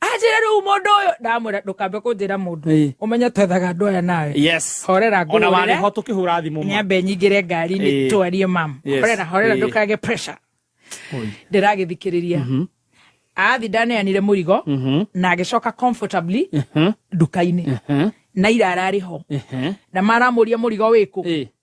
anjĩre rĩu mũndũ ũyũ ndamwĩra ndũkambe kũnjĩra mũndũ Ĩĩ. ũmenye twethaga andũ aya nawe yes horera ona ngũhũrĩre warĩ ho tũkĩhũra thimũ ma. nyambe nyingĩre Ĩĩ. ngari-inĩ twarie mam Yes. horera horera Ĩĩ. ndũkage pressure Oi. ndĩragĩthikĩrĩria Mhm. athi ndaneanire mũrigo Mhm. na agĩcoka comfortably Mhm. nduka-inĩ Mhm. na irararĩ ho Mhm. na maramũria mũrigo wĩkũ Ĩĩ.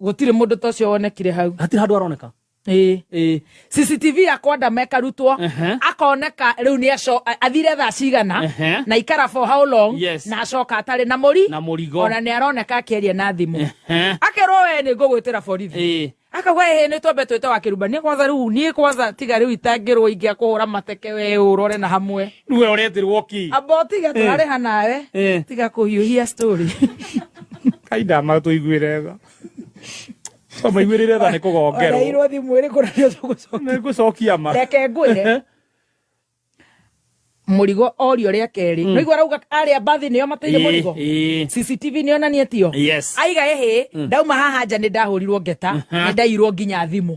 Gũtirĩ mũndũ ta ũcio wonekire hau. Hatirĩ handũ aroneka. Ĩĩ. Ĩĩ. CCTV ya kwa Ndama ĩkarutwo Ehe. akoneka rĩu nĩ aco- a- athire thaa cigana Ehe. na ikara for how long Yes. na acoka atarĩ na mũri Na mũrigo. ona nĩ aroneka akĩaria na thimũ Ehe. akerwo we nĩ ngũgwĩtĩra borithi Ĩĩ. akauga ĩhĩ nĩ twambe twĩte wa kĩrumba niĩ kwanza rĩu niĩ kwanza tiga rĩu itangĩrwo ingĩakũhũra mateke we ũrore na hamwe Niwe ũretirwo ki. Amba ũtige tũrarĩha nawe. Eh. Tiga kũhiũhia story. Kai ndama tũiguĩre tha. To maiguĩrĩre tha nĩ kũgongerwo. Ũreirwo thimũ ĩrĩ kũrĩa tũgũcokia. Nĩ ngũcokia ma. Reke ngwĩre. Eh. Mũrigo orio rĩa kerĩ. Mm. Nĩguo arauga arĩa mbathi nĩo mateire eh, mũrigo. CCTV nĩo na niĩ tio. Yes. Aiga ehe, mm. ndauma haha nja nĩ ndahũrirwo ngeta, nĩ ndairwo nginya thimũ.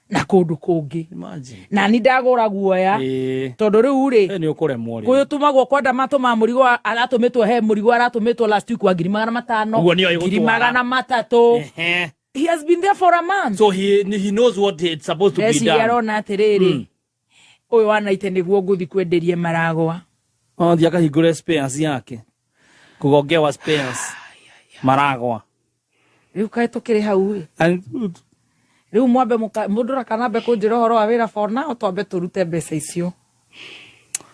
na kundu kungi Imagine. na ni ndagura guoya Eh, tondu riu ri eh, nĩ ũkũremwo rĩu. kuyu tumagwo kwa ndamato ma murigo aratumitwo he murigo aratumitwo last week wa ngiri magana matano Ũguo nĩyo ĩgũtwara. ngiri magana matatu Ehe. he has been there for a month so he, he knows what it's supposed to be ndeciria done arona atiriri Ũyũ wa Naite nĩguo ngũthi kwenderie maragwa. Onthi akahingũre spares yake. Kũgongewa spares. Maragwa. Rĩu kaĩ tũkĩrĩ hau ĩ. Rĩu mwambe mũndũ rakanambe kũnjĩra ũhoro wa wĩra for now twambe tũrute mbeca icio.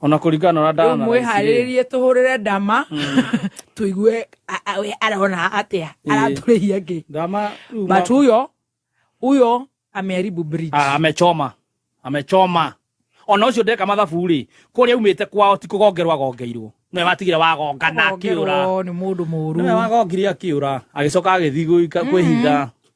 ona kuringana na ndana mwiharirie tuhurire ndama mm. tuigue we arona atia araturihia ngi ndama but uyo uyo ameharibu bridge ah, amechoma amechoma ona ucio ndeka mathabu ri kuria umite kwao ti kugongerwa gongeirwo niwe watigire wagongana akiura ni mundu muru niwe wagongire akiura agicoka agithii kwihitha mm.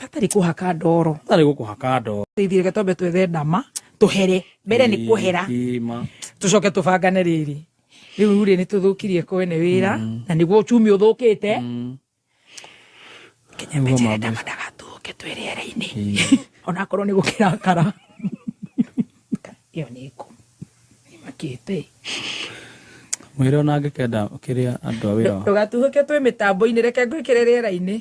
hatarĩ kũhaka ndoro hatarĩ gũkũhaka ndoro teithie reke twambe twethe ndama tũhere mbere nĩ kũhera tũcoke tũbangane rĩrĩ rĩu rĩ nĩ tũthũkirie kwene wĩra mm. na nĩguo uchumi ũthũkĩte mm. kenyamejere ndama ndagatũke twĩ rĩera-inĩ onakorwo nĩ gũkĩrakara ĩyo nĩ ngũ nĩmakĩte mwĩre ona angĩkenda kĩrĩa andũ a wĩra ndũgatuhũke twĩ mĩtambo-inĩ reke ngwĩkĩre rĩera-inĩ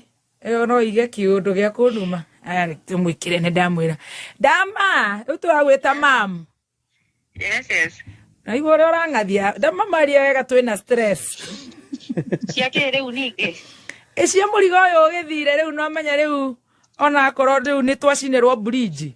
ĩyo no ige kiundu gĩa kũnuma aya reke mwĩkĩre nĩ ndamwĩra ndama rĩu tũragwĩta mam yes yes naigua ũrĩa ũrang'athia ndama maria wega twĩna stress cia kĩ rĩu ningĩ ĩcia mũrigo ũyũ ũgĩthire rĩu no menya rĩu ona akorwo rĩu nĩ twacinĩrwo bridge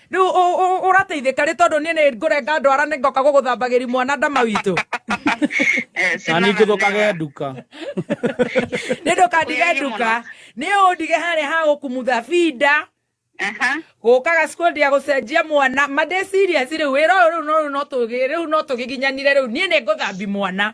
rĩu ũrateithĩka rĩ tondũ niĩ nĩ ngũrenga ndwara nĩ ngoka gũgũthambagĩri mwana ndama witũ eh, na nĩ ngũthũkage nduka nĩ ndũkandige nduka nĩ ũndige harĩa ha gũkumutha binda gũkaga school dia gũcenjia mwana mandĩ serious rĩu wĩra ũyũ rĩu no tũgĩginyanire rĩu niĩ nĩ ngũthambi mwana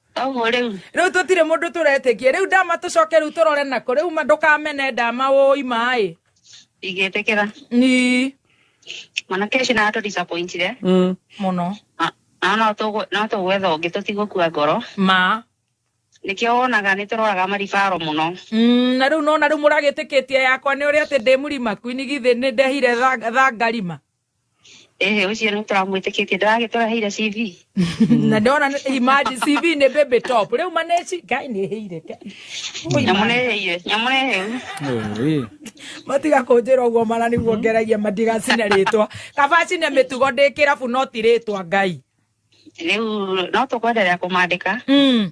Oguo riu. Riu tutire mundu turetikie. Riu ndama tucoke riu turore nako. Riu ndukamene ndama woi mai. Igetekera. Ni. Mwanake ucio na atu disappointire. Mm. Muno. Na no tugu no tugwetha ungi tutigukua ngoro. Ma. Nikio wonaga ni turoraga maribaro muno. Mm, na riu nona riu muragitikitie yakwa ni uri ati ndi murima kwini githi ni ndehire tha, tha ngarima. Ĩhĩ ũcio nĩ tũramwĩtĩkĩtie ndagagĩtũraheire CV. na ndona nĩ- imagine cv nĩ baby top rĩu maneci ngai nĩ hĩire Nyamũneheire, nyamũneheu. matiga kũnjĩra ũguo mana nĩguo ngeragia matigacine rĩtwa kabacine mĩtugo ndĩ kĩrabu no ti rĩtwa ngai Rĩu no tũkwenderea kũmandĩka. Mm.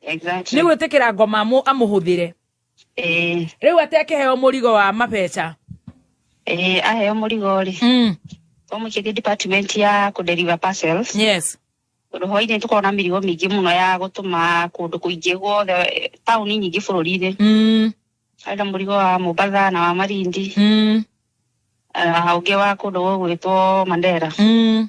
Exactly. nä gwä tä kä ra ngoma amå- amå hå thä re Eh, rä u atä akä heo må rigo wa mabeca eh, aheo mũrigo rĩ mm. ũmũkĩthiĩ department ya kũ deliver parcels yes tondũ hwainĩ tũkoragwo na mĩrigo mĩingĩ mũno ya gũtũma kũndũ kũingĩ guothe eh, taũni nyingĩ bũrũri-inĩ mm. harĩ na mũrigo wa Mombasa na wa Malindi Mm. na ũngĩ wa kũndũ gũgwĩtwo Mandera Mm.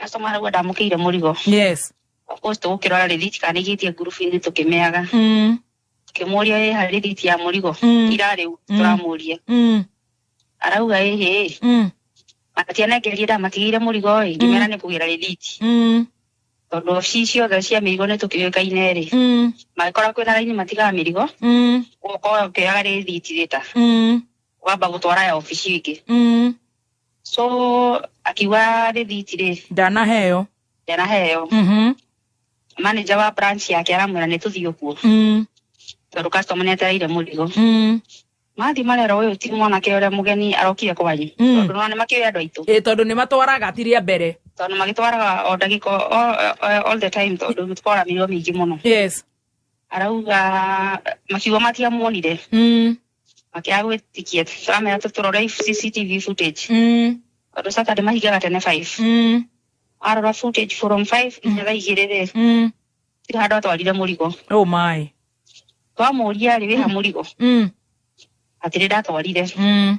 customer rĩu ndamũkĩire mũrigo yes of course tũgũkĩrora rĩthiti kana nĩigĩtie ngurubu-inĩ tũkĩmeaga mm. tũkĩmũria ĩ harĩ rĩthiti ya mũrigo Mm. ira rĩu Mm. tũramũria Mm. arauga ĩ hĩ Mm. matianengerie ndamatigĩire mũrigo ĩ ngĩmera nĩ kũgĩra rĩthiti Mm. tondũ obici ciothe cia mĩrigo nĩ tũkĩũĩkaine rĩ Mm. mangĩkorwo kwĩna raini matigaga mĩrigo Mm. ũkorwo ũkĩoyaga rĩthiti rĩta Mm. wamba gũtwara ya obici ingĩ Mm. so akiuga rĩthiti rĩ ndanaheo ndanaheo Mhm. manager wa branch yake aramwĩra nĩ tũthiĩ kuo Mm. tondũ customer nĩ atereire mũrigo Mm. mathiĩ marera ũyũ ti mwanake ũrĩa mũgeni arokire kwanyu Mm. tondũ nona nĩ makĩũĩ andũ aitũ Ĩ, tondũ nĩ matwaraga ti rĩa mbere tondũ magĩtwaraga o ndagĩka o- o- all the time tondũ tũkoramirwo mĩingĩ mũno yes arauga makiuga matiamuonire Mm. makiaga gwĩtĩkia tũramera tũtũrore cctv footage Mm. tondũ saturday mahingaga tene five Mm. arora footage from five nginya thaa igĩrĩ rĩ Mm. tirĩ handũ atwarire mũrigo Oh my. twamũria rĩ wĩha mũrigo Mm. atĩrĩ ndatwarire Mm.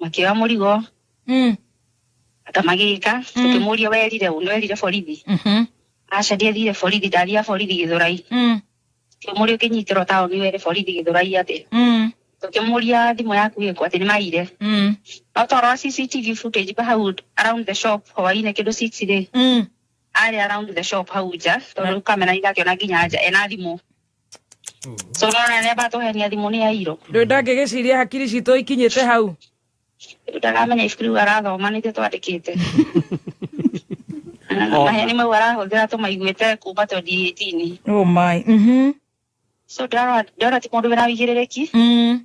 makĩoya mũrigo Mm. ata magĩka Mm. tũkĩmũria werire ũ nĩwerire borithi Mhm. aca ndiathire borithi ndathia borithi gĩthũrai Mm. tũkĩmũria ũkĩnyitĩrwo taũni were borithi gĩthũrai atĩ Mm. tũkĩmũria thimũ yaku ĩkũ atĩ nĩ maire Mm. no twarora cctv footage pa hau around the shop hwainĩ kĩndũ six rĩ Mm. arĩ around the shop hau nja tondũ kamera nĩ ndakĩona nginya nja ena thimũ Tũrona nĩ batũhenia thimũ nĩ yairo. Ndũĩ ndangĩgĩciria hakiri citũ ikinyĩte hau. Ndaramenya ibuku rĩu arathoma nĩtio twandĩkĩte. Na maheni mau arahũthĩra tũmaiguĩte kuma 2018-inĩ. Oh my. Mhm. So ndĩrarora ndĩrona ti mũndũ wĩna ũigĩrĩrĩki. Mm.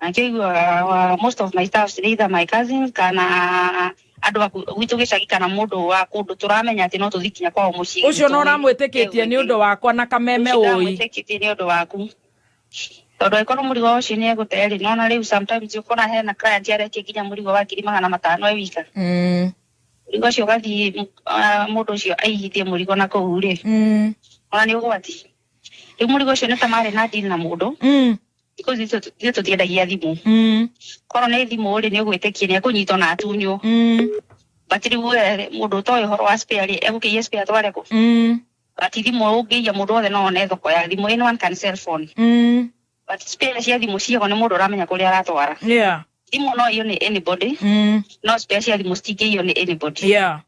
Na kä u uh, most of my staffs either my cousins kana andå aku gwitå gä cagi kana må ndå wa kå ndå tå ramenya atä no tå thiä kinya kwao må ciä å cio no ramwä tä kä tie nä å ndå wakwa na kameme å i ndamwĩtĩkĩtie nĩ ũndũ waku tondå angĩkorwo mũrigo wa ũcio nĩ egũte rĩ nona rĩu sometimes ũkona hena client aretie nginya mũrigo wa ngiri magana matano e wika Mm, mũrigo ũcio ũgathiĩ ah, mũndũ ũcio aigithie mũrigo na kũu rĩ mm. ona nĩ ũgwati rĩu mũrigo ũcio nĩ ta marĩ na deal na mũndũ Mm, thikũ ici itũ- ithuĩ tũtiendagia thimũ mm, korwo nĩ thimũ rĩ nĩ ũgwĩtĩkie nĩ ekũnyitwo na atunywo mm, but rĩu we rĩ, mũndũ ũtoĩ ũhoro wa spare rĩ egũkĩia spare atware kũ mm, but thimũ ũngĩiya mũndũ wothe no one thoko ya thimũ in one can sell phone mm. but spare cia thimũ ciago nĩ mũndũ ũramenya kũrĩa aratwara Yeah. thimũ no iyo nĩ anybody Mm, no spare cia thimũ citingĩiyo nĩ anybody yeah.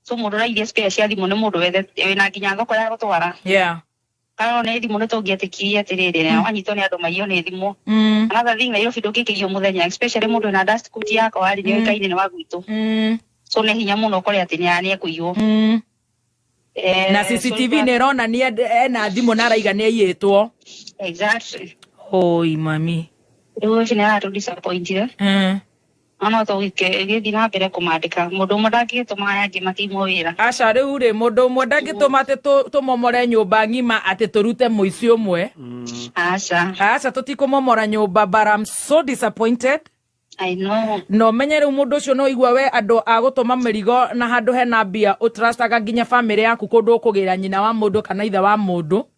tũmũrũrairie spare cia thimũ nĩ mũndũ wethe wĩna nginya thoko ya gũtwara yeah kana nĩ thimũ nĩ tũngĩetĩkirie atĩrĩrĩ na wanyitwo nĩ andũ maiywo nĩ thimũ mm another thing Nairobi ndũngĩkĩrio mũthenya especially mũndũ wĩna dust coat yako arĩ nĩ ũĩkaine nĩ wa gwitũ mm so nĩ hinya mũno ũkore atĩ nĩ nĩ ekũiywo mm Eh, na so CCTV nĩ ĩronania nd- ena thimũ na araiga nĩ aiyĩtwo exactly oi mami rĩu ũcio nĩ aratũ disappointire mm na no tũgĩke ĩgĩthiĩ na mbere kũmandĩka mũndũ ũmwe ndangĩgĩtũma aya angĩ matimwo wĩra aca rĩu rĩ mũndũ ũmwe ndangĩtũma atĩ tũ- tũmomore nyũmba ng'ima atĩ tũrute mũici ũmwe aca aca tũtikũmomora nyũmba but I'm so disappointed I know na ũmenye rĩu mũndũ ũcio no igua we andũ a gũtũma mĩrigo na handũ hena mbia ũtrastaga nginya bamĩrĩ yaku kũndũ ũkũgĩra nyina wa mũndũ kana ithe wa mũndũ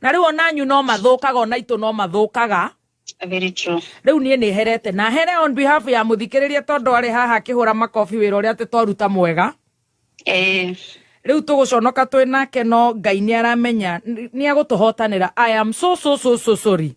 na rĩu ona anyu no mathũkaga ona itũ no mathũkaga Very true. Riu nie ni herete na here on behalf ya muthikiriria tondu ari haha kihura makofi wira uria ati twaruta mwega. Eh. Riu tuguconoka twi nake no Ngai ni aramenya ni agutuhotanira. I am so so so so sorry.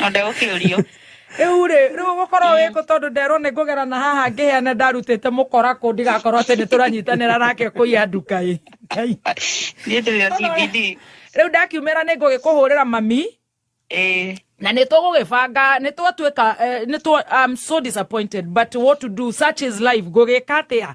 no ndegũkĩũrio rĩu rĩ rĩu gũkorwo wĩ kũ tondũ nderwo nĩ ngũgera na haha ngĩheane ndarutĩte mũkora kũ ndigakorwo atĩ nĩ tũranyitanĩra nake kũiya nduka ĩ Ngai. nĩ ndĩ ya cbd rĩu ndakiumĩra nĩ ngũgĩkũhũrĩra mami ĩĩ na nĩ tũgũgĩbanga nĩ twatuĩka eh, nĩ twa I'm so disappointed but what to do such is life ngũgĩka atĩa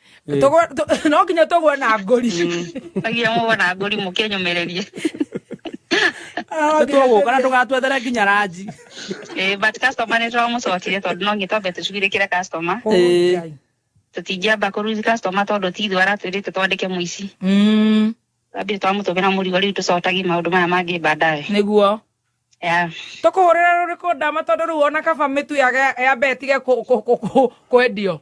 no nginya tũgwe na ngũri agia mũgwe na ngũri mũkĩnyũmĩrĩrie nĩtũgũka na ndũgatwethere nginya ranji eh, but customer nĩtũramũcokire tondũ no ngĩtwambe tũcugirĩkĩre customer oh, eh. tũtingĩamba kũruzi customer tondũ ti ithuĩ aratwĩrĩte twandĩke mũici mm. ambire twamũtũmĩra mũrigo rĩu tũcotagi maũndũ maya mangĩ bandae nĩguo tũkũhũrĩra rũrĩkũ ndama tondũ rĩu ona kaba mĩtu yambe ĩtige kwendio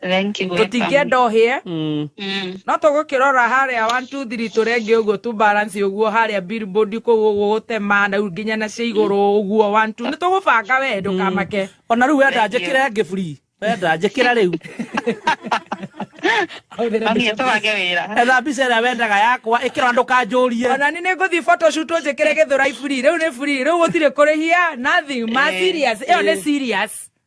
Thank you. gwetha. tũtingĩenda ũhĩe Mm. Mm. no tũgũkĩrora harĩa 123 tũrenge ũguo tu balance ũguo harĩa billboard kũu ũguo gũtema na rĩu nginya na cia igũrũ ũguo 12 nĩ tũgũbanga we ndũkamake ona rĩu wenda Thank you. njĩkĩre ngĩ buri wenda njĩkĩra rĩu Mami ĩtũbange wĩra. etha mbica ĩrĩa wendaga yakwa ĩkĩra na ndũkanjũrie ona nĩ nĩngũthiĩ photoshoot njĩkĩre gĩthũrai free rĩu nĩ free rĩu gũtirĩ kũrĩhia nothing ma Eh, serious ĩyo nĩ eh. serious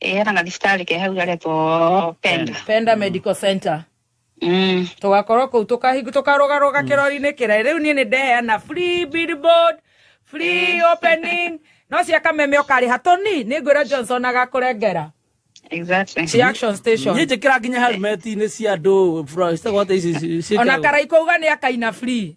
era na thibitarä ke hau garetwo penda penda medical center Mm. tugakorwo kuu tukahingu tukarugaruga kirori-ini kirai riu nie ni ndeheana free billboard free opening no cia kameme ukariha toni ni ngwira johnson agakũrengera Exactly. ci action station Niĩ njĩkĩra nginya helmet-inĩ cia andũ bro, citagwo atĩ ici- ici- ona ciĩtagwo- karai kuuga ni akaina free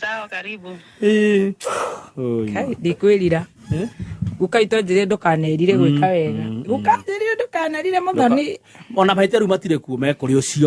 Sawa, karibu. Eh. Oi. Kai, ndikwirira Eh? guka itonjire ndukanerire gwika wega gukanjire ndukanerire muthoni Ona maitĩru matirĩ kuo mekũrĩ ũcio